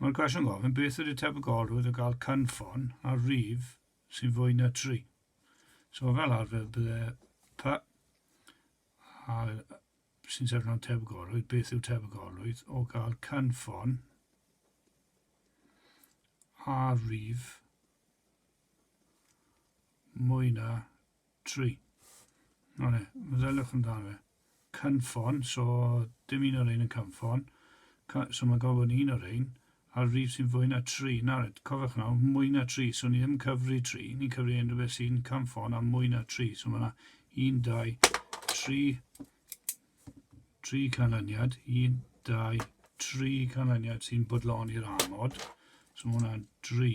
Mae'r cwestiwn gofyn, beth ydy tebygolrwydd o gael cynffon ar rif sy'n fwy na 3? So fel arfer bydde pa a sy'n sefyll mewn tebygolrwydd, beth yw tebygolrwydd o gael cynffon ar rif mwy na Tri. O ne, meddyliwch amdano fe. Cynffon, so dim un o rhein yn cynffon. Cy- so mae'n gorfod bod yn un o rhein. A'r rif sy'n fwy na tri. Nawr, cofiwch nawr, mwy na tri. So ni ddim yn cyfri tri, ni'n cyfri unrhyw beth sy'n cynffon a mwy na tri. So mae yna un, dau, tri, tri canlyniad. Un, dau, tri canlyniad sy'n bodloni'r amod. So mae hwnna'n dri.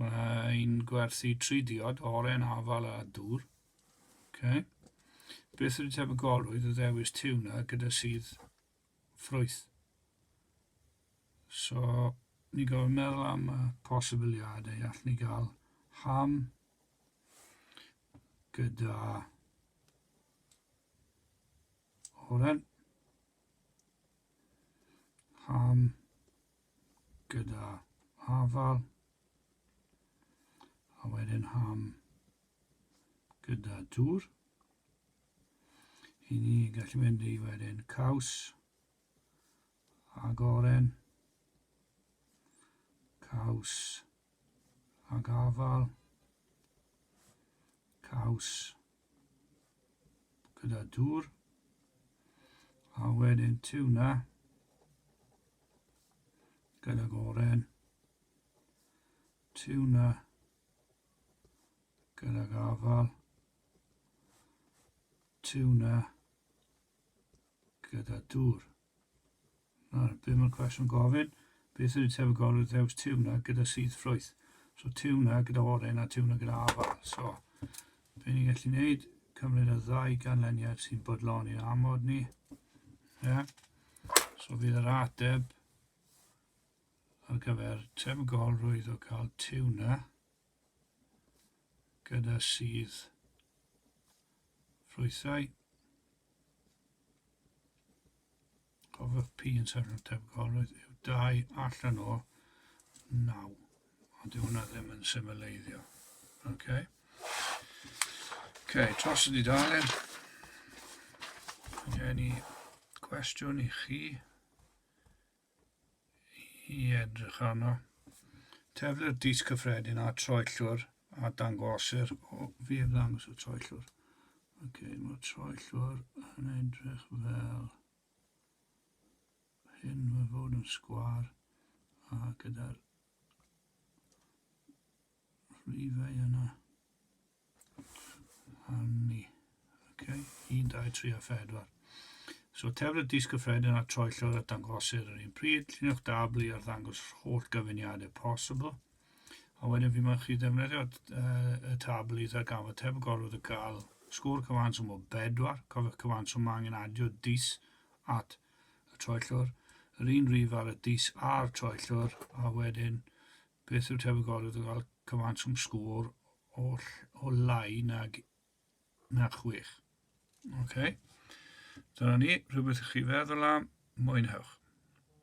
Mae'n gwerthu tri diod, oren, afal a dŵr. Okay. Beth ydy tebygolrwydd o ddewis tiwna gyda sydd ffrwyth? So, ni gofyn meddwl am y posibiliadau. All ni gael ham gyda oren. Ham gyda afal a wedyn ham gyda dŵr. I ni gallu mynd i wedyn caws ag oren, caws ag afal, caws gyda dŵr a wedyn tiwna gyda goren tiwna gyda gafal tiwna gyda dŵr Na, dwi'm yn cwestiwn gofyn, beth yw tebygolrwydd ddewis tiwna gyda sudd ffrwyth? So tiwna gyda oren a tiwna gyda afal. So, be ni'n gallu gwneud, cymryd y ddau ganlyniad sy'n bodlon i'n amod ni. Yeah. So bydd yr ateb ar gyfer tebygolrwydd o cael tiwna gyda sudd ffrwythau. Cofiwch pi yn sefyll yn tebygolrwydd yw dau allan o naw. Ond dyw hwnna ddim yn symleiddio. Okay. Okay, tros y dudalen. Gen i cwestiwn i chi. i edrych arno. Teflu'r dis cyffredin a troellwr a dangosir o fi heb ddangos y troellwr. Oce, okay, mae'r troellwr yn edrych fel hyn, mae fod yn sgwar a gyda'r rhifau yna. Arni. Okay. 1, 2, 3 a 4. So tefr y dis gyffredin a troellwr a dangosir yr un pryd, lluniwch dabl i arddangos holl gyfuniadau posibl. A wedyn fi mae'n chi ddefnyddio uh, y tabl i ddarganfod tefr gorfod y gael sgôr cyfanswm o bedwar. Cofiwch cyfanswm mae angen adio dis at y troellwr. Yr un rif ar y dis a'r troellwr a wedyn Beth yw'r tebygoedd o gael cymaint o'm sgôr o, o lai nag na chwech? Oce. Okay. Dyna ni, rhywbeth i chi feddwl am, mwynhewch.